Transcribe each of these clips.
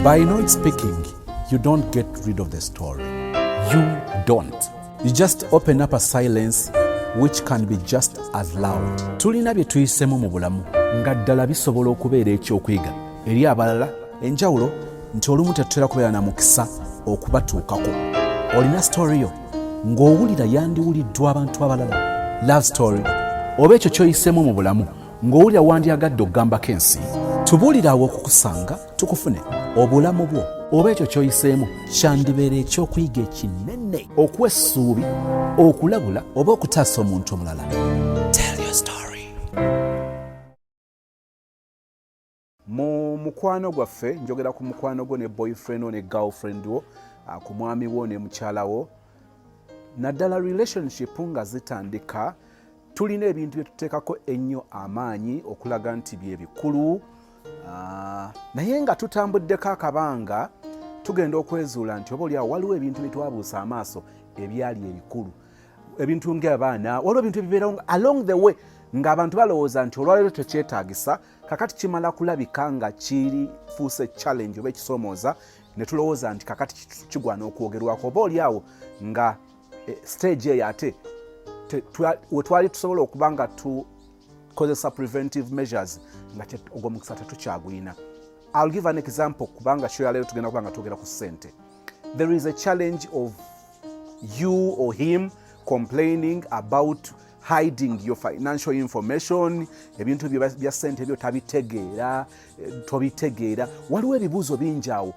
By not speaking, you don't get rid of the story. You don't. You just open up a silence which can be just as loud. Tulina bye tuyisemu mu bulamu nga ddala bisobola okubeera ekyokuyiga eri abalala. Enjawulo nti olumu tetutera kubeera na mukisa okubatuukako. Olina story yo ng'owulira yandiwuliddwa abantu abalala. Love story oba ekyo kyoyisemu mu bulamu ng'owulira wandyagadde okugambako ensi tubuulire awo okukusanga tukufune obulamu bwo oba ekyo kyoyiseemu kyandibeera ekyokuyiga ekinene okuwa essuubi okulabula oba okutaasa omuntu omulala mu mukwano gwaffe njogera ku mukwano gwo ne boyfriend wo ne girlfriend wo ah, ku mwami wo ne mukyala wo naddala relationship nga zitandika tulina ebintu bye tuteekako ennyo amaanyi okulaga nti bye bikulu ah, naye nga tutambuddeko akabanga tugenda okwezuula nti oba olyawo waliwo ebintu bye twabuusa amaaso ebyali ebikulu ebintu ng'abaana waliwo ebintu ebibeerawo along the way ng'abantu balowooza nti olwaleero tekyetaagisa kakati kimala kulabika nga kifuuse challenge oba ekisomooza ne tulowooza nti kakati kigwana okwogerwako oba oli awo nga eh, stage eyo ate wetwali tusobola okuba nga tukozesa preventive measures nga ogwo mukisa tetukyagulina ill give an example kubanga show yaleero tugenda kuba nga twogera ku sente there is a challenge of you or him complaining about hiding your financial information ebintu byo bya sente byo tabitegeera eh, tobitegeera waliwo ebibuuzo bingi awo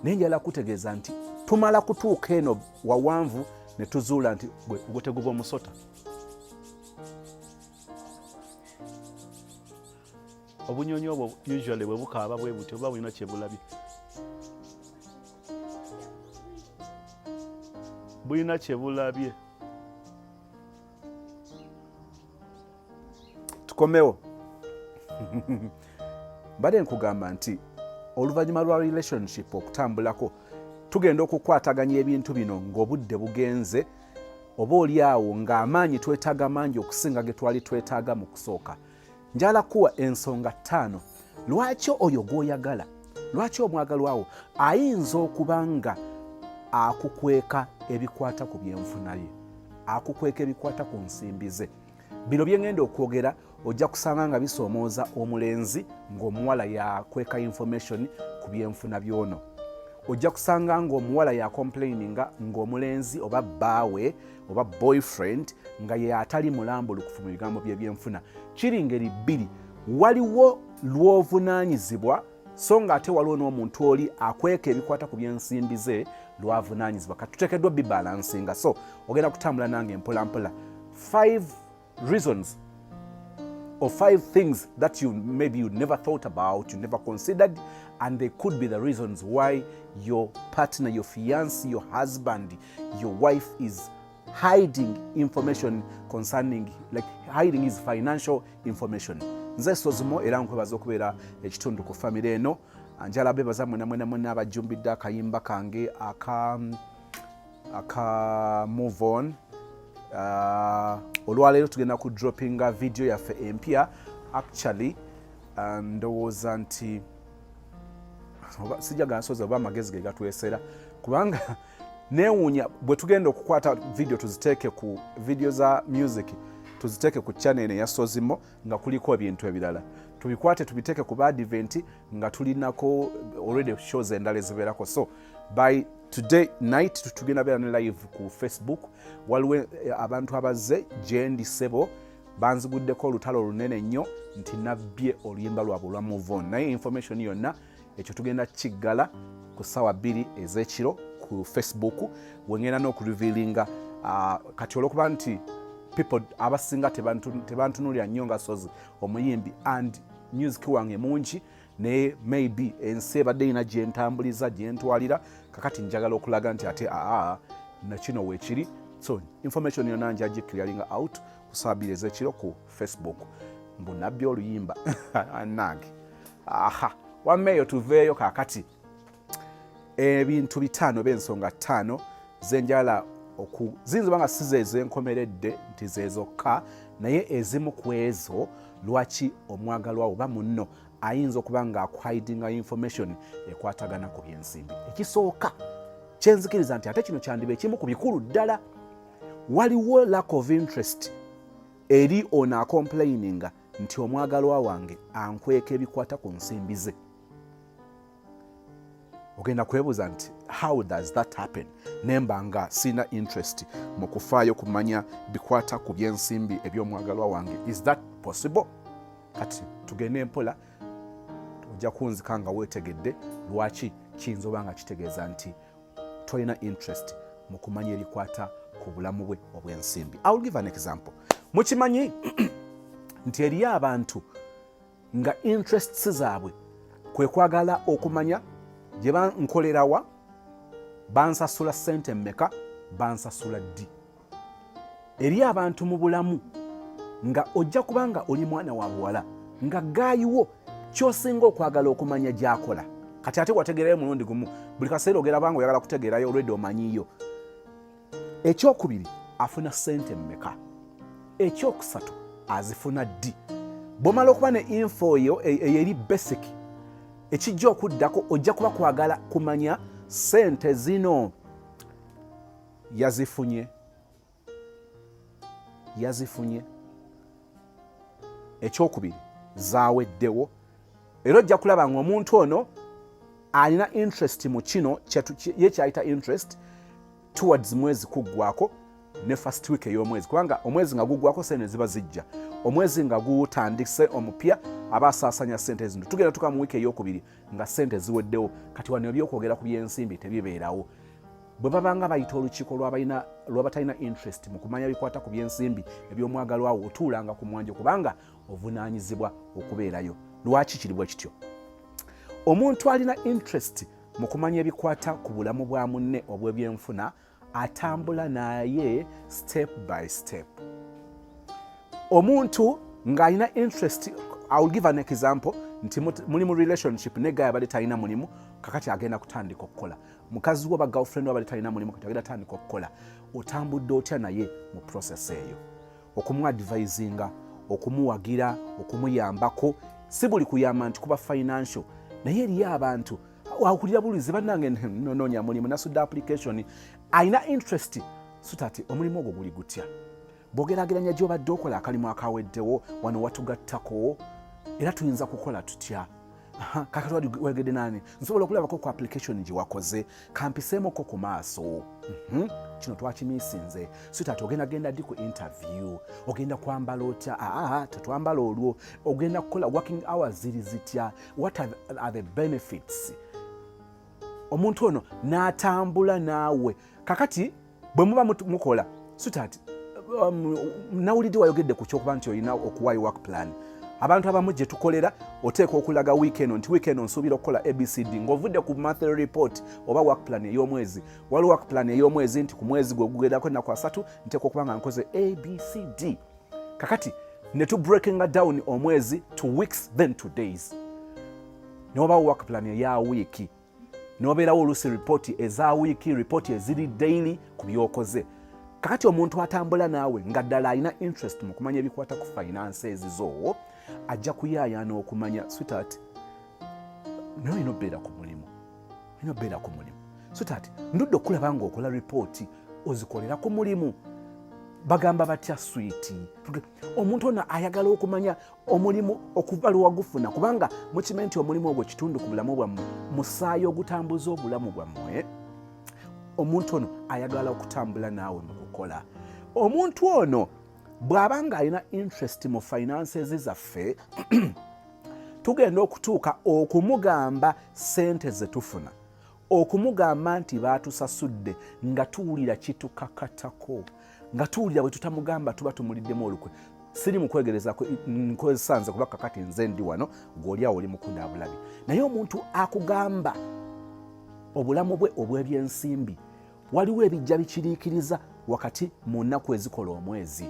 naye njala kutegeeza nti tumala kutuuka eno wawanvu ne tuzuula nti gwe teguba omusota obunyonyi obwo usually bwe bukaaba bwe buti oba bulina kyebulabye bulina kyebulabye tukomewo mbadde nkugamba nti oluvannyuma lwa relationship okutambulako tugenda okukwataganya ebintu bino ng'obudde bugenze oba oli awo ng'amaanyi twetaaga mangi okusinga ge twali twetaaga mu kusooka njala kuwa ensonga ttaano lwaki oyo gw'oyagala lwaki omwagalwawo ayinza okuba nga akukweka ebikwata ku byenfuna ye akukweka ebikwata ku nsimbi ze bino byengenda okwogera ojja kusanga nga bisoomooza omulenzi ng'omuwala yakweka information ku byenfuna byono ojja kusanga ng'omuwala yakomplaininga ng'omulenzi oba bbaawe oba boyfriend nga ye atali mulambulukufu mu bigambo byebyenfuna kiri ngeri bbiri waliwo lwovunanyizibwa so nga ate waliwo n'omuntu oli akweka ebikwata ku byensimbi ze lwavunanyizibwa kati tutekeddwa bibalansinga so ogenda kutambula nange mpolampola 5 reasons or five things that you maybe you never thought about, you never considered, and they could be the reasons why your partner, your fiance, your husband, your wife is hiding information concerning like hiding his financial information. Nze sozimo era nkwebaza okubeera ekitundu ku famire eno njala bebaza mwena mwena mwena abajjumbidde akayimba kange aka aka move on uh, olwaleero tugenda ku droppinga vidiyo yaffe empya actually uh, ndowooza nti sijagala nsozi oba amagezi ge gatwesera kubanga newuunya bwe tugenda okukwata vidiyo tuziteeke ku vidiyo za music tuziteeke ku chanel eya sozimo nga kuliko ebintu ebirala tubikwate tubiteeke ku baadiventi nga tulinako already shows endala ezibeerako so by today night tugenda beera ne live ku facebook waliwo eh, abantu abazze gyendi sebo banziguddeko olutalo olunene nnyo nti nabbye oluyimba lwabwe olwa movon naye information yonna ekyo tugenda kiggala ku ssaawa bbiri ez'ekiro ku facebook wengenda n'okuliviilinga ah, kati olwokuba nti people abasinga tebantunulira nnyo nga sozi omuyimbi and music wange mungi naye maybe ensi ebadde erina gyentambuliza gyentwalira kakati njagala okulaga nti ate aa nakino wekiri so information yona njagikirialinga out kusabira ezekiro ku facebook mbu nabbi oluyimba nange aha wameeyo tuveeyo kakati ebintu bitaano oba ensonga ttaano zenjala oku ziyinza oba nga si zeezo enkomeredde nti zeezokka naye ezimu ku ezo lwaki omwagalwa oba munno ayinza okuba nga akuhidinga information ekwatagana ku byensimbi ekisooka kyenzikiriza nti ate kino kyandiba ekimu ku bikulu ddala waliwo lack of interest eri ono akomplaininga nti omwagalwa wange ankweka ebikwata ku nsimbi ze ogenda kwebuuza nti how does that happen nemba nga siina interest mu kufaayo kumanya bikwata ku byensimbi eby'omwagalwa wange is that possible kati tugende mpola ojja kunzika nga weetegedde lwaki kiyinza oba nga kitegeeza nti tolina interest mu kumanya ebikwata ku bulamu bwe obw'ensimbi iwill give an example mukimanyi nti eriyo abantu nga interests zaabwe kwe kwagala okumanya gye bankolerawa bansasula ssente mmeka bansasula ddi eri abantu mu bulamu nga ojja kuba nga oli mwana wa buwala nga gaayiwo kyosinga okwagala okumanya gyakola kati ate wategeerayo mulundi gumu buli kaseera ogera banga oyagala kutegeerayo olwedde omanyiyo ekyokubiri afuna sente mmeka ekyokusatu azifuna ddi bwomala okuba ne info yo e, eyeri basic ekijja okuddako ojja kuba kwagala kumanya sente zino yazifunye yazifunye ekyokubiri zaweddewo era ojja kulaba nga omuntu ono alina interest mu kino ye kyayita interest towards mwezi kuggwako ne first week ey'omwezi kubanga omwezi nga guggwako sente ziba zijja omwezi nga gutandise omupya aba asaasanya sente zino tugenda tuka mu wiiki eyokubiri nga sente ziweddewo kati wano ebyokwogera ku byensimbi tebibeerawo bwe babanga bayita olukiiko lwabatalina interest mu kumanya bikwata ku byensimbi ebyomwagalwawo otuulanga ku mwanje kubanga ovunaanyizibwa okubeerayo lwaki kiri bwe kityo omuntu alina interest mu kumanya ebikwata ku bulamu bwa munne obw'ebyenfuna atambula naye step by step omuntu ng'alina interest iwill give an example nti muli mu relationship ne gaya bali talina mulimu kakati agenda kutandika okukola mukazi wo bagirlfriend wa bali talina mulimu kati agenda tandika okukola otambudde otya naye mu process eyo okumuadvisinga okumuwagira okumuyambako si buli kuyamba nti kuba financial naye eriyo abantu wakulira bulizi banange nononya mulimu nasudde application alina interest sutati omulimu ogwo guli gutya bwogerageranya gyobadde okola akalimu akaweddewo wano watugattako era tuyinza kukola tutya kakati wali wegede nani nsobola okulabako ku application gye wakoze kampiseemukko ku maaso mhm. kino twakimisinze sitat ogenda genda di ku interview ogenda kwambala otya aa tetwambala olwo ogenda kukola working hours ziri zitya what are the benefits omuntu ono n'atambula naawe kakati bwe muba mukola sutaati um, nawulidde wayogedde ku kyokuba nti olina okuwayo work plan abantu abamu gye tukolera oteeka okulaga wiikeno nti wiikeno nsuubira okukola abcd ng'ovudde ku monthly report oba work plan ey'omwezi waliwo work plan ey'omwezi nti ku mwezi gwe gugerako ennaku asatu nteeka okuba nga nkoze abcd kakati ne tu breakinga down omwezi to weeks then to days ne wabawo work plan eya wiiki nobeerawo oluusi ripooti eza wiiki ripooti eziri daily ku byokoze kakati omuntu atambula naawe nga ddala alina interest mu kumanya ebikwata ku finance ezizo ajja kuyaayaana okumanya sweetheart naye olina obeera ku mulimu olina obeera ku mulimu sweetheart ndudde okulaba nga okola ripooti ozikolera ku mulimu bagamba batya swiiti omuntu ono ayagala okumanya omulimu okuva lwewagufuna kubanga mukimanyi nti omulimu ogwo kitundu ku bulamu bwammwe musaayi ogutambuza obulamu bwammwe omuntu ono ayagala okutambula naawe mu kukola omuntu ono bw'aba ng'alina interest mu finances zaffe tugenda okutuuka okumugamba sente ze tufuna okumugamba nti baatusasudde nga tuwulira kitukakatako nga tuwulira bwe tutamugamba tuba tumuliddemu olukwe siri mukwegereza nkozesa nze kuba kakati nze ndi wano gweoli awo oli mukunda abulabi naye omuntu akugamba obulamu bwe obw'ebyensimbi waliwo ebijja bikiriikiriza wakati mu nnaku ezikola omwezi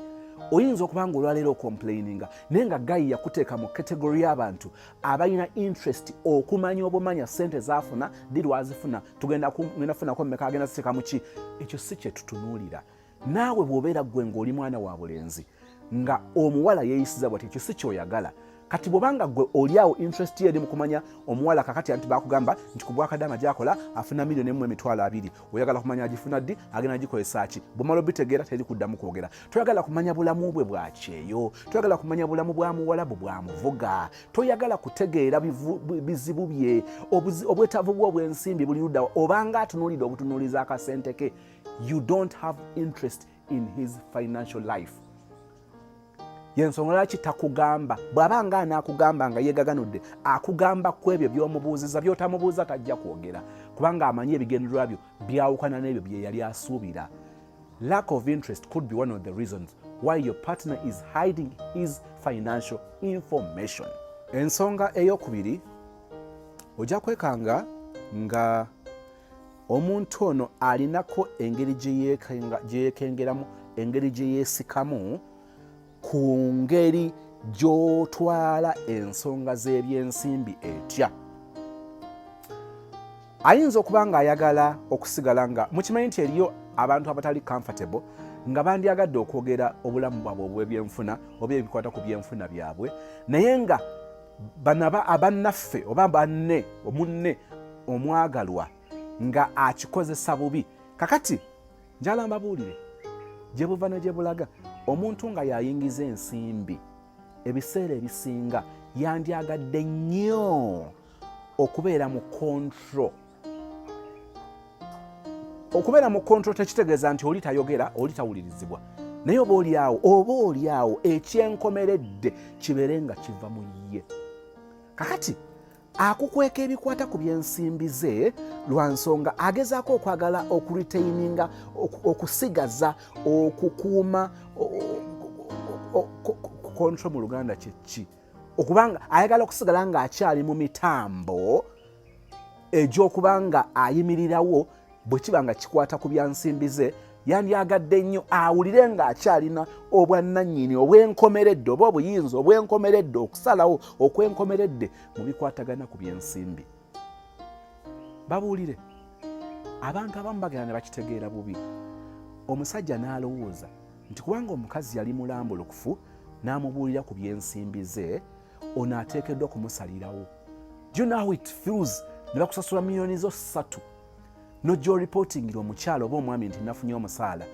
oyinza okuba nga olwaleero okomplaininga naye nga gayi yakuteeka mu kategori y'abantu abalina interest okumanya obumanya sente zafuna ddi lwazifuna tugenda funako mumeka agenda ziteeka muki ekyo si kyetutunuulira naawe bw'obeera ggwe ng'oli mwana wa bulenzi nga omuwala yeeyisiza bwati ekyo si kyoyagala kati bwobanga gwe oliawo interest eri mukumanya omuwala kakati anti bakugamba nti kubwakadama gyakola afuna milioni emu emitwalo abiri oyagala kumanya agifuna ddi agenda gikozesa ki bwomala obitegeera teri kuddamu kwogera toyagala kumanya bulamu bwe bwakyeyo toyagala kumanya bulamu bwa muwalabu bwa muvuga toyagala kutegeera bizibu bye obwetaavu bwe obwensimbi buli ludawa obanga atunuulidde obutunuuliza akasente ke you don't have interest in his financial life yensonga lwaki takugamba bw'aba nga anaakugamba nga yeegaganudde akugamba ku ebyo by'omubuuziza by'otamubuuza tajja kwogera kubanga amanyi ebigendererwa byo byawukana n'ebyo bye yali asuubira lack of interest could be one of the reasons why your partner is hiding his financial information ensonga ey'okubiri ojja kwekanga nga omuntu ono alinako engeri gye yeekengeramu engeri gye yeesikamu ku ngeri gy'otwala ensonga z'ebyensimbi etya ayinza okuba ng'ayagala okusigala nga mukimanyi nti eriyo abantu abatali comfortable nga bandyagadde okwogera obulamu bwabwe obw'ebyenfuna oba ebikwata ku byenfuna byabwe naye nga banaba abannaffe oba banne omunne omwagalwa nga akikozesa bubi kakati njala mbabuulire gye buva ne gye bulaga omuntu nga yayingiza ensimbi ebiseera ebisinga yandyagadde nnyo okubeera mu kontro okubeera mu kontrol tekitegeeza nti oli tayogera oli tawulirizibwa naye oba olyawo oba olyawo ekyenkomeredde kibeere nga kiva mu ye kakati akukweka ebikwata ku byensimbi ze lwa nsonga agezaako okwagala okuritaininga okusigaza okukuuma kontro mu luganda kyekki okubanga ayagala okusigala ng'akyali mu mitambo egy'okuba nga ayimirirawo bwe kiba nga kikwata ku bya nsimbi ze yandyagadde nnyo awulire ng'akyalina obwannannyini obwenkomeredde oba obuyinza obwenkomeredde okusalawo okwenkomeredde mu bikwatagana ku byensimbi babuulire abantu abamu bagenda ne bakitegeera bubi omusajja n'alowooza nti kubanga omukazi yali mulambulukufu n'amubuulira ku byensimbi ze ono ateekeddwa kumusalirawo do you know how it feels ne bakusasula miliyoni zo ssatu nojja oripotingira omukyala oba omwami nti nafunye omusaala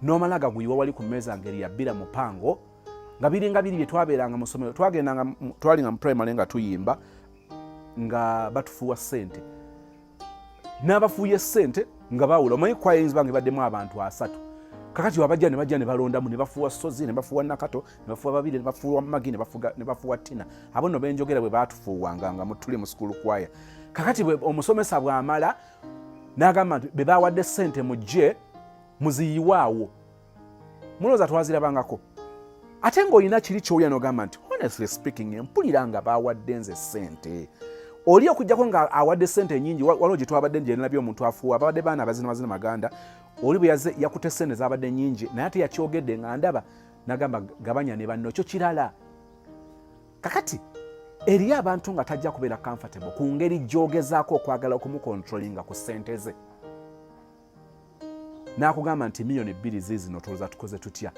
nomala gaguyiwa wali ku mmeeza ngeri yabbira mupango nga biringa biri byetwabeeranga mu ssomero twagendanga twalinga mu primary nga tuyimba nga batufuwa ssente n'abafuuye ssente nga bawula omanyi kwaya eyinza bange baddemu abantu asatu kakati wabajja ne bajja ne balondamu ne bafuuwa sozi ne bafuuwa nakato ne bafuuwa babiri ne bafuuwa magi ne bafuuwa tina abo no benjogera bwe baatufuuwanga nga mutuli mu sukulu kwaya kakati omusomesa bw'amala n'agamba nti be bawadde ssente mujje muziyiwaawo mulowooza twazirabangako ate ng'olina kiri kyowulira nogamba nti honestly speaking empulira nga bawadde nze sente oli okujjako nga awadde sente nyingi waliwo gyetwabadde gyenalabye omuntu afuuwa babadde baana abazina mazina maganda oli bwe yaze yakute sente zabadde nyingi naye ate yakyogedde nga ndaba nagamba gabanya ne banno kyo kirala kakati eriyo abantu nga tajja kubeera comfortable ku ngeri gyogezaako okwagala okumukontrolinga ku sente ze n'akugamba nti miyoni bbiri ziizino tolooza tukoze tutya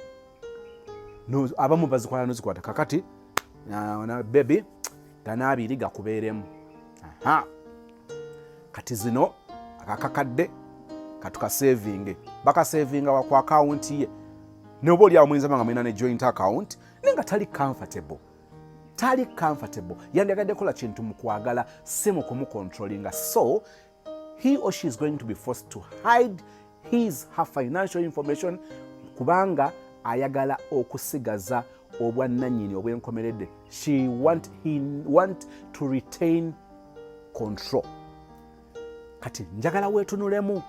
abamu bazikwala nozikwata kakati bebi gana abiri gakubeeremu kati zino akakakadde katukasevinge bakasevinga waku akawunti ye noba oliawo muyinza banga mulina ne joint account naye nga tali comfortable tali comfortable yandiyagadde kola kintu mukwagala si mukumukontrolinga so he or she is going to be forced to hide his her financial information kubanga ayagala okusigaza obwannanyini obwenkomeredde she want, he want to retain control kati njagala wetunulemu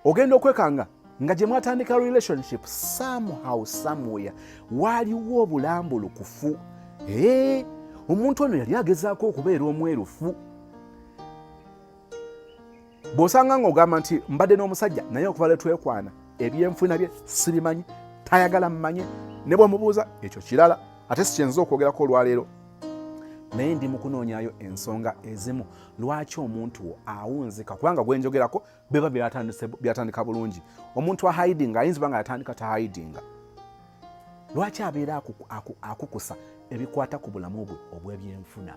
ogenda okwekanga nga gye mwatandika relationship somehow somewhere waaliwo obulambulukufu ee omuntu ono yali agezaako okubeera omwerufu bw'osanga ng'ogamba nti mbadde n'omusajja naye okuva lwe twekwana ebyenfuna bye sibimanyi tayagala mmanye ne bw'omubuuza ekyo kirala ate sikyenza okwogerako olwaleero naye ndi mukunoonyayo ensonga ezimu lwaki omuntu wo awunzika kubanga gwenjogerako biba byatandika bulungi omuntu ahidinga ayinza oba nga yatandika tahidinga lwaki abeera akukusa ebikwata ku bulamu bwe obw'ebyenfuna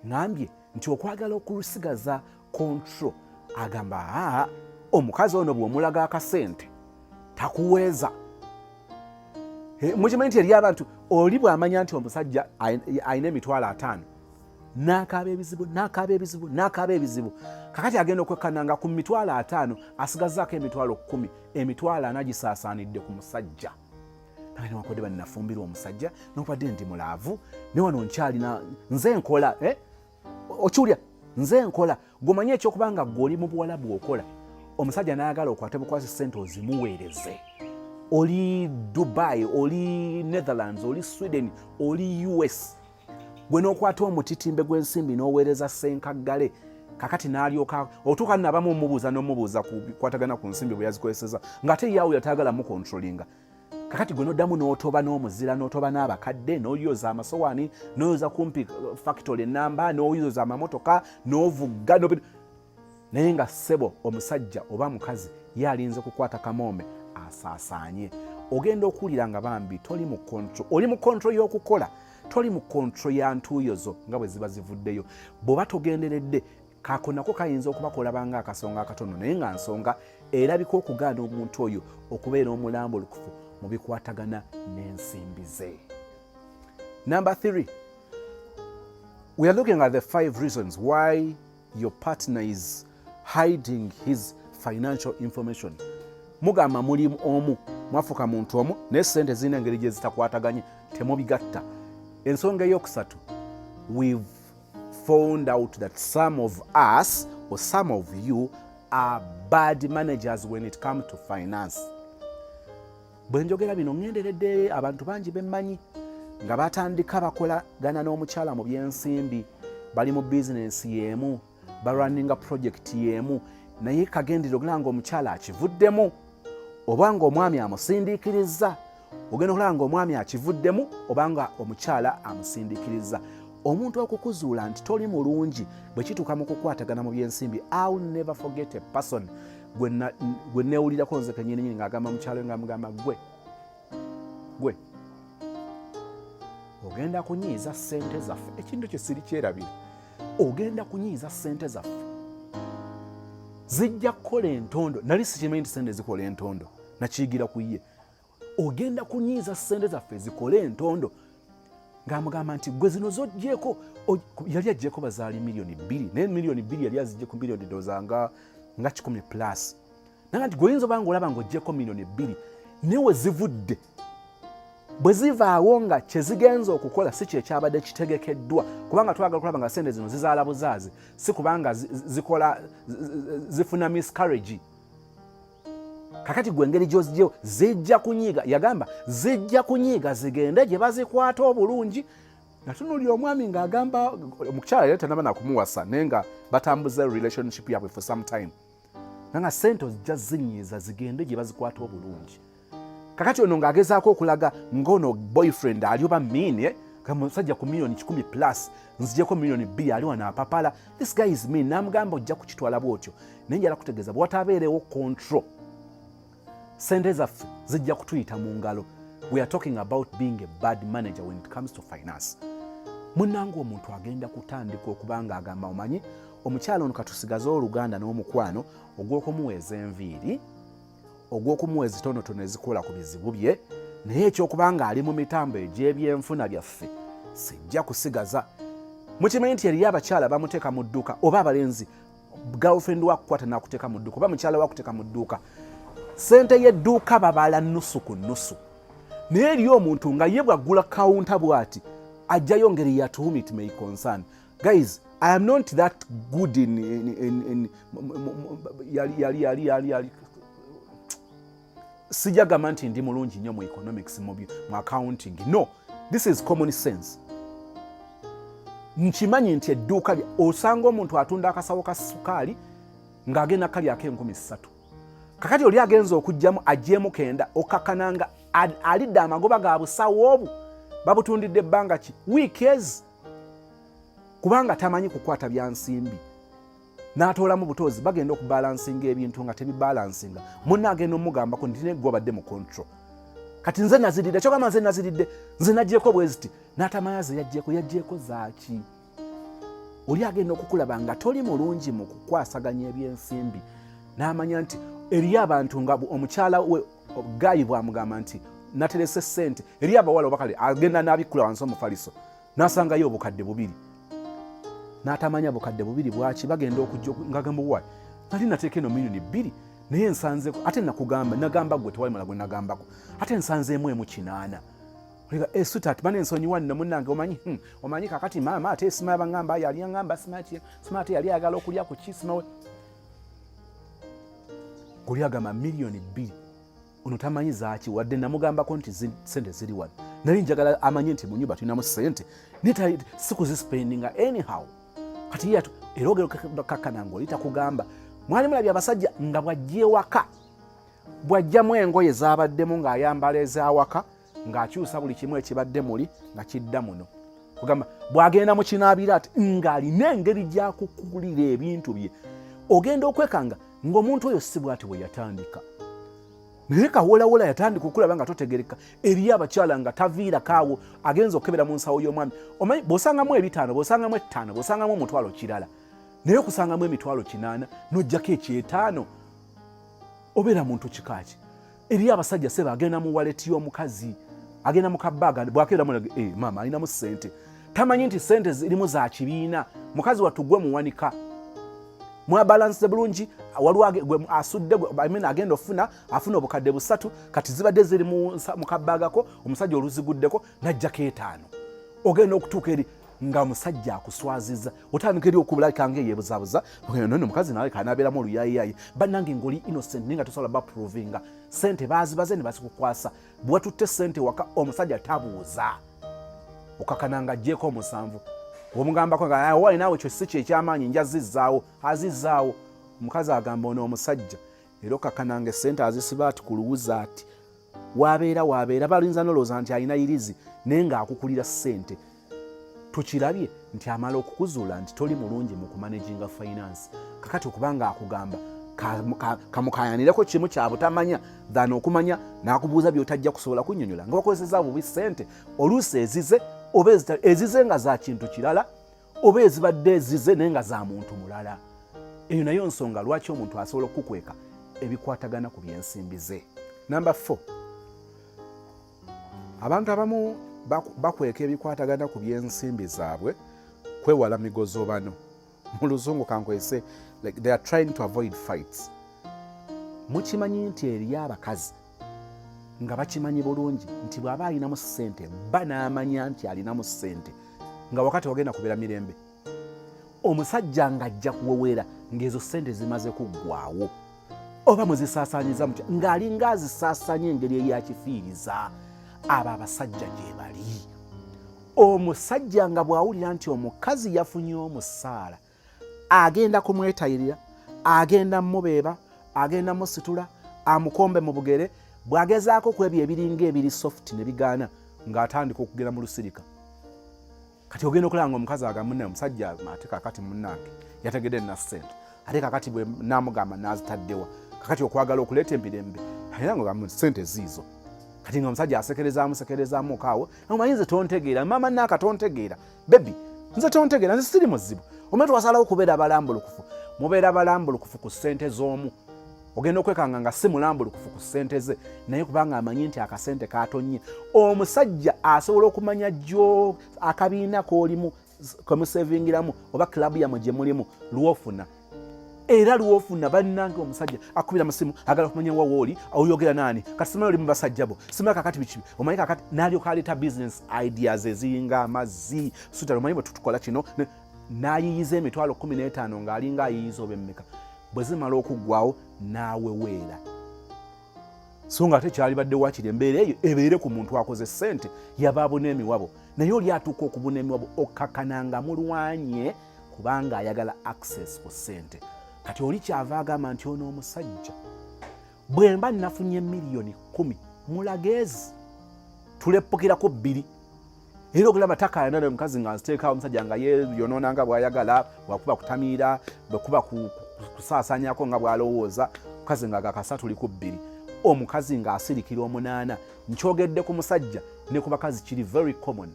ngambye nti okwagala okulusigaza kontro agamba aa omukazi ono bwomulaga akasente takuweeza eh, mukimanyi nti eri abantu oli bwamanya nti omusajja alina emitwalo ataano nakaaba ebizibu nakaaba ebizibu nakaaba ebizibu kakati agenda okwekana nga ku mitwalo ataano asigazaako emitwalo kumi emitwalo ana gisaasaanidde ku musajja naye newankubadde bani nafumbirwa omusajja nokubadde ndi mulaavu ne wano nkyalina nze nkola eh? okiwulira nze nkola gomanye ekyokuba nga gwe oli mu buwala bwokola omusajja nayagala okwate bukwasi sente ozimuweereze oli dubai oli netherlands oli sweden oli us gwe n'okwata omutitimbe gw'ensimbi n'oweereza ssenkaggale kakati n'alyoka otuuka nabamu omubuuza n'omubuuza ku bikwatagana ku nsimbi bwe yazikozeseza ng'ate yaawo yataagala mukontrolinga kakati gwe noddamu n'otoba n'omuzira n'otoba n'abakadde n'oyoza amasowaani n'oyoza kumpi uh, factory enamba n'oyoza amamotoka n'ovugga naye nga ssebo omusajja oba mukazi ye alinze kukwata kamoome asaasaanye ogenda okuwulira nga bambi toli mu kontro oli mu kontro y'okukola toli mu kontro ya ntuuyo zo nga bwe ziba zivuddeyo bw'oba togenderedde kako nako kayinza okuba kolabanga akasonga akatono naye nga nsonga erabika okugaana omuntu oyo okubeera omulambo olukufu mu bikwatagana n'ensimbi ze number 3 we are looking at the five reasons why your partner is hiding his financial information mugamba muli omu mwafuka muntu omu naye sente zirina engeri gye zitakwataganye temubigatta ensonga eyokusatu we've found out that some of us or some of you are bad managers when it come to finance Bwe njogera bino ŋŋenderedde abantu bangi be mmanyi nga batandika bakolagana n'omukyala mu by'ensimbi bali mu bizinensi y'emu balwaninga pulojekiti y'emu naye kagendera okulaba nga omukyala akivuddemu oba nga omwami amusindiikirizza ogenda okulaba nga omwami akivuddemu oba nga omukyala amusindiikirizza omuntu okukuzuula nti toli mulungi bwe kituuka mu kukwatagana mu by'ensimbi iw never forget a person gwe newulirako nze kenyininyini ngaagamba mukyalo nga mugamba gwe gwe ogenda kunyiiza sente zaffe ekintu kye siri kyerabira ogenda kunyiiza sente zaffe zijja kukola entondo nali sikimanyi nti sente zikola entondo nakiyigira ku ye ogenda kunyiiza ssente zaffe zikole entondo ng'amugamba nti gwe zino zojjeeko yali ajjeeko bazaali miliyoni bbiri naye miliyoni bbiri yali azijjeeko miliyoni doza nga nga kikumi plus naga nti gweoyinza obanga olaba ngaojjeeko miliyoni bbiri naye wezivudde bwe zivaawo nga kyezigenza okukola si kyekyabadde kitegekeddwa kubanga twagala okulaba nga sente zino zizaala buzaazi si kubanga zikola zifuna miscarrage kakati gwe engeri gyozijeo zijja kunyiiga yagamba zijja kunyiiga zigende gye bazikwata obulungi natunuli omwami ngaagamba omukyala yali tanaba nakumuwasa naye nga batambuza relationship yabwe for some time nanga sente ozijja zinyiiza zigende gye bazikwata obulungi kakati ono ng'agezaako okulaga ng'ono boyfriend ali oba miini eh? musajja ku milioni kikumi plus nzijeko milioni bbiri ali wano apapala this guy is mean namugamba ojja kukitwala bwotyo naye njala kutegeeza bwewatabeerewo control sente zaffe zijja kutuyita mu ngalo we are talking about being a bad manager when it comes to finance munange omuntu agenda kutandika okuba nga agamba omanyi omukyalo ono katusigaze oluganda n'omukwano ogw'okumuweeza enviiri ogw'okumuwa ezitonotono ezikola ku bizibu bye naye ekyokuba nga ali mu mitambo egy'ebyenfuna byaffe sijja kusigaza mukimanyi nti eriyo abakyala bamuteeka mu dduuka oba abalenzi girlfriend wakukwata nakuteeka mu dduuka oba mukyala wakuteeka mu dduuka sente y'edduuka babala nusu ku nusu naye eriyo omuntu nga ye bwaggula kawunta bwati ajjayo ngeri yatuhum it may concern guys i am not that good in, in, in, in, yali yali yali yali yali sijagamba nti ndi mulungi nnyo mu economics mu accounting no this is common sense nkimanyi nti edduuka osanga omuntu atunda akasawo ka sukaali ng'agenda kalyako enkumi ssatu kakati oli agenza okugjamu ajemu kenda okakana nga alidde amagoba ga busawo obwo babutundidde ebbanga ki weekes kubanga tamanyi kukwata byansimbi n'atoolamu butoozi bagenda okubalansinga ebintu nga tebibalansinga munna agenda omugambako nti negwe obadde mu control kati nze naziridde kyogamba nze naziridde nze nagyeko bweziti n'atamanya ze yagyeko yagyeko zaaki oli agenda okukulaba nga toli mulungi mu kukwasaganya ebyensimbi n'amanya nti eriyo abantu nga omukyala we gayi bwamugamba nti naterese sente eriyo abawala obakale agenda n'abikkula wansi omufaliso nasangayo obukadde bubiri natamanya bukadde bubiri bwaki bagenda okujja ngagamba wa nali nateeka eno milioni bbiri naye nsanze ate nakugamba nagamba gwe tewali mala gwe nagambako ate nsanzeemu emu kinaana Olega e eh, sweetheart bane nsonyi wanne munange omanyi hmm, omanyi kakati maama ate esima yabangamba yali yangamba sima ki sima ate yali ayagala okulya ku kisima we guli agamba milioni bbiri ono tamanyi zaaki wadde namugambako nti sente ziri wano naye njagala amanye nti mu nyumba tulinamu sente naye sikuzisipendinga anyhow kati yatu era ogero kakana ngaoli takugamba mwali mulabye abasajja nga bwajja ewaka bwajjamu engoye zabaddemu ng'ayambala ezawaka ng'akyusa buli kimu ekibadde muli nga kidda muno kugamba bw'agenda mu kinaabira ati ng'alina engeri gyakukulira ebintu bye ogenda okwekanga ng'omuntu oyo si bwati bwe yatandika naye kawolawola yatandika okulaba nga totegereka eriyo abakyala nga taviirakaawo agenza okukebera mu nsawo y'omwami omanyi bw'osangamu ebitaano bw'osangamu ettaano bw'osangamu omutwalo kirala naye okusangamu emitwalo kinaana n'ojjako ekyetaano obeera muntu kikaaki eriyo abasajja seba agenda mu waleti y'omukazi agenda mu kabaaga bwakeera mulaga e eh, maama alinamu sente tamanyi nti sente zirimu za kibiina mukazi wattu gwe muwanika mwabalanse bulungi waliwo gwe asudde amina agenda ofuna afuna obukadde busatu kati zibadde ziri mu kabaagako omusajja oluziguddeko najjako etaano ogenda okutuuka eri nga musajja akuswaziza otandika eri okubulabika nga eyebuzabuza no mukazi nawe kanabeeramu oluyayiyayi bannange ngoli innocent naye nga tosobola baprovinga sente bazibaze ne bazikukwasa bwatutte sente waka omusajja tabuuza okakana nga ajjeeko omusanvu omugambako nga ah, wali naawe ekyo si kyekyamaanyi nja zizzaawo azizzaawo omukazi agamba ono omusajja era okakananga esente azisiba ati kuluwuza ati wabeera wabeera balinza nolowooza nti alina yirizi naye ng'akukulira ssente tukirabye nti amala okukuzuula nti toli mulungi mu kumanaginga finance kakati okuba nga akugamba kamukayanireko kimu kyabutamanya than okumanya nakubuuza byotajja kusobola kunyonyola nga wakozeseza bubi sente oluusi ezize oba ezize nga zakintu kirala oba ezibadde ezize naye nga za muntu mulala eyo nayo nsonga lwaki omuntu asobola okukukweka ebikwatagana ku byensimbi ze namba 4 abantu abamu bakweka ebikwatagana ku byensimbi zaabwe kwewala migozobano mu luzungu kankwese like they are trying to avoid fights mukimanyi nti eriyo abakazi nga bakimanyi bulungi nti bw'aba alinamu ssente bba n'amanya nti alinamu ssente nga wakati wagenda kubeera mirembe omusajja ng'ajja kuwewera ng'ezo ssente zimaze kuggwawo oba muzisaasaanyiza mutya ng'alinga azisaasanya engeri eyakifiiriza abo abasajja gye bali omusajja nga bw'awulira nti omukazi yafunye omusaala agenda kumwetayirira agenda mubeeba agenda musitula amukombe mu bugere bwagezaako ku ebyo ebiringa ebiri soft ne bigaana ng'atandika okugenda mu lusirika kati ogenda okulaba nga omukazi agamune omusajja ate kakati munange yategede na sente ate kakati bwe namugamba nazitaddewa kakati okwagala okuleeta emirembe era nga gamu sente ziizo kati nga omusajja asekerezaamu sekerezaamu okaawo omanyi nze tontegeera maama naaka tontegeera bebi nze tontegera nze siri muzibu omwe twasalawo kubeera balambulukufu mubeera balambulukufu ku ssente z'omu ogenda okwekanga nga si mulambulukufu ku ssente ze naye kubanga amanyi nti akasente katonnye omusajja asobola okumanya jo akabiina kolimu kwemusevingiramu oba kilabu yamwe gye mulimu lwofuna era lwofuna bannange omusajja akubira musimu agala kumanya wa wooli oyogera naani kati simanyi oli mu basajja bo simanyi kakati biki omanyi kakati nalyoka aleeta business ideas eziyinga amazzi sutala omanyi bwe tutukola kino n'ayiyiza emitwalo kumi n'etaano ng'alinga ayiyiza oba emmeka bwe zimala okuggwawo n'aweweera so nga ate kyalibadde wakiri embeera eyo ebeere ku muntu akoze ssente yabaabuna emiwabo naye oli atuuka okubuna emiwabo okkakananga mulwanye kubanga ayagala access ku ssente kati oli kyava agamba nti ono omusajja bwe mba nafunye miliyoni kumi mulageezi tuleppukirako bbiri era okulaba takayana ne mukazi nga nziteekawo omusajja nga yeyonoona nga bwayagala wakuba kutamiira bwekuba kusaasanyako nga bwalowooza mukazi nga gakasatu li ku bbiri omukazi ng'asirikira omunaana nkyogedde ku musajja ne ku bakazi kiri very common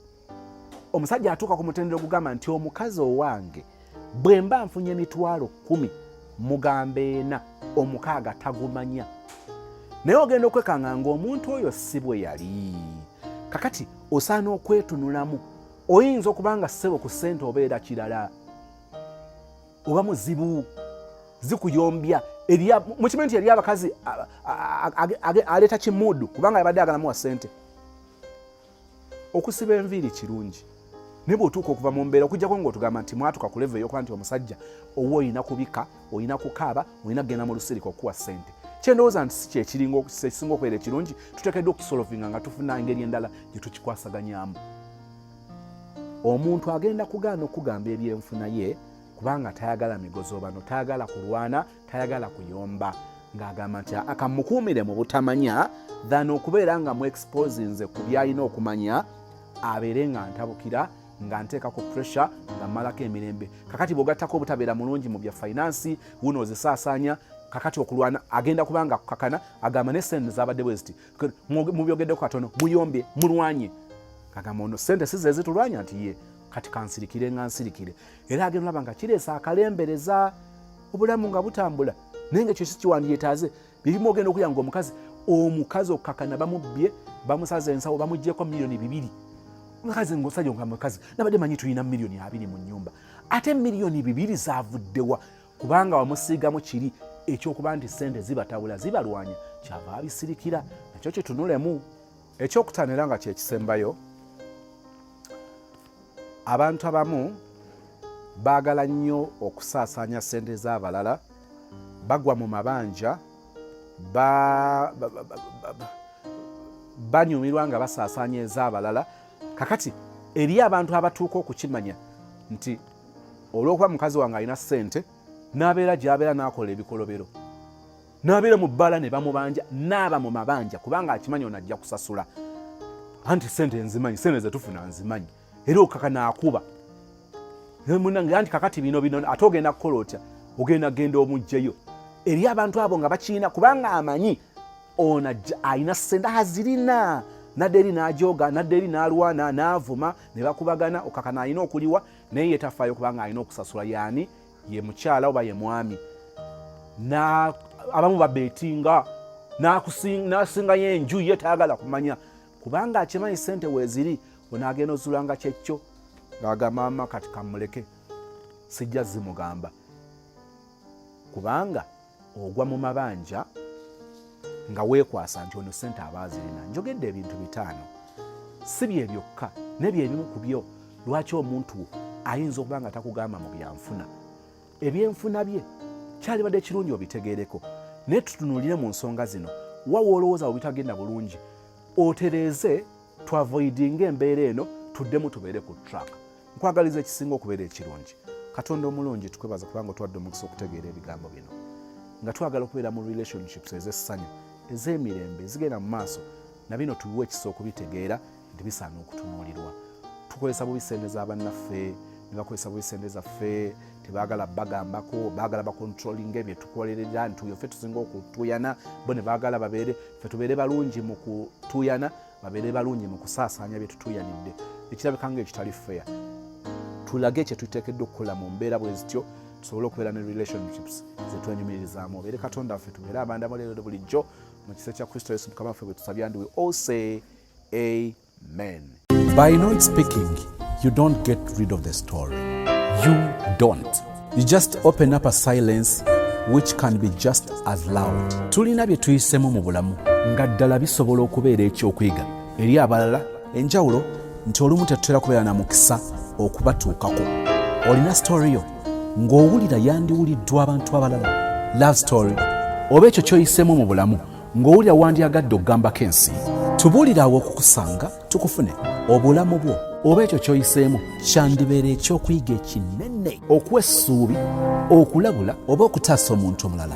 omusajja atuuka ku mutendera ogugamba nti omukazi owange bwe mba nfunye emitwalo kumi mugamba ena omukaaga tagumanya naye ogenda okwekanga ngaomuntu oyo si bwe yali kakati osaana okwetunulamu oyinza okuba nga ssebo ku ssente obeera kirala oba muzibu zikuyombya mukimanyi nti yali abakazi aleeta kimuudu kubanga yabadde agalamuwa ssente okusiba enviiri kirungi naye bwotuuka okuva mu mbeera okujjako ngaotugamba nti mwatuka ku levo eyokuba nti omusajja owa olina kubika olina kukaaba olina kugenda mu lusirika okukuwa sente kyendowooza nti si kyekirisinga okubeera ekirungi tutekeddwa okukisolovinga nga tufuna engeri endala gye tukikwasaganyamu omuntu agenda kugaana okugamba ebyenfuna ye kubanga tayagala migozobano tayagala kulwana tayagala kuyomba ng'agamba nti akamukuumire mu butamanya than okubeera nga mu exposinze ku byalina okumanya abeere nga ntabukira nga nteeka ku pressure nga mmalako emirembe kakati bwogattako obutabeera mulungi mu bya finance wuno ozisaasaanya kakati okulwana agenda kubanga kukakana agamba ne sente zabadde bwe ziti mubyogeddeko katono muyombye mulwanye agamba ono sente si zezitulwanya nti ye kati kansirikire nga nsirikire era agenda olaba nga kireesa akalembereza obulamu nga butambula naye nga kyosi kiwandyetaaze byebimu ogenda okulya nga omukazi omukazi okukakana bamubbye bamusaza ensawo bamugyeko miliyoni bibiri mukazi ngaosaja nga mukazi nabadde manyi tulina miliyoni abiri mu nyumba ate miliyoni bibiri zavuddewa kubanga wamusiigamu kiri ekyokuba nti sente zibatawula zibalwanya kyava abisirikira nakyo kitunulemu ekyokutaano era nga kyekisembayo abantu abamu baagala nnyo okusaasaanya ssente z'abalala bagwa mu mabanja banyumirwa nga basaasaanya ez'abalala kakati eri abantu abatuuka okukimanya nti olw'okuba mukazi wange alina ssente n'abeera gy'abeera n'akola ebikolobero n'abeera mu bbaala ne bamubanja n'aba mu mabanja kubanga akimanyi ono ajja kusasula anti sente nzimanyi sente zetufuna nzimanyi era okaka naakuba munange anti kakati bino bino ate ogenda kukola otya ogenda genda omugjeyo eri abantu abo nga bakiina kubanga amanyi ono alina sente azirina nadde eri n'ajooga nadde eri n'alwana n'avuma ne bakubagana okaka naalina okuliwa naye yetafayo kubanga alina okusasula yaani ye mukyala oba ye mwami abamu babetinga nasingayo enju ye tayagala kumanya kubanga akimanyi sente weziri onagenda ozulanga kyekyo ngagamama kati kamuleke sijja zimugamba kubanga ogwa mu mabanja nga weekwasa nti ono sente aba azirina njogedde ebintu bitaano si bye byokka nebyo ebimu ku byo lwaki omuntu ayinza okuba nga takugamba mu byanfuna ebyenfuna bye kyalibadde kirungi obitegeereko naye tutunuulire mu nsonga zino wawa olowooza webitagenda bulungi otereeze twavoidinga embeera eno tuddemu tubeere ku track nkwagaliza ekisinga okubeera ekirungi katonda omulungi tukwebaza kubanga otwadde omukisa okutegeera ebigambo bino nga twagala okubeera mu relationships ez'essanyu ez'emirembe ezigenda mu maaso na bino tubiwa ekisa okubitegeera nti bisaana okutunuulirwa tukozesa bubi sente za bannaffe ne bakozesa bubi sente zaffe tebagala bagambako bagala bakontrolinga ebyo tukolerera nti oyo ffe tusinga okutuyana bo ne bagala babeere ffe tubeere balungi mu kutuyana babeere balungi mu kusaasaanya bye tutuuyanidde ekirabika nga ekitali feya tulage kye tuteekeddwa okukola mu mbeera bwe zityo tusobole okubeera ne relationships zetwenyumirizaamu obeere katonda waffe tubeere abanda muleero bulijjo mu kisa kya kristo yesu mukama waffe bwe tusabya ndiwe ose amen by not speaking you don't get rid of the story you don't You just open up a silence which can be just as loud. Tulina bye tuyisemu mu bulamu nga ddala bisobola okubeera ekyokuyiga eri abalala. Enjawulo nti olumu tetutera kubeera na mukisa okubatuukako. Olina story yo ng'owulira yandiwuliddwa abantu abalala. Love story oba ekyo kyoyisemu mu bulamu ng'owulira wandyagadde okugambako ensi. Tubuulire awo okukusanga. tukufune obulamu bwo oba ekyo kyoyiseemu kyandibeera ekyokuyiga ekinene okuwa essuubi okulabula oba okutaasa omuntu omulala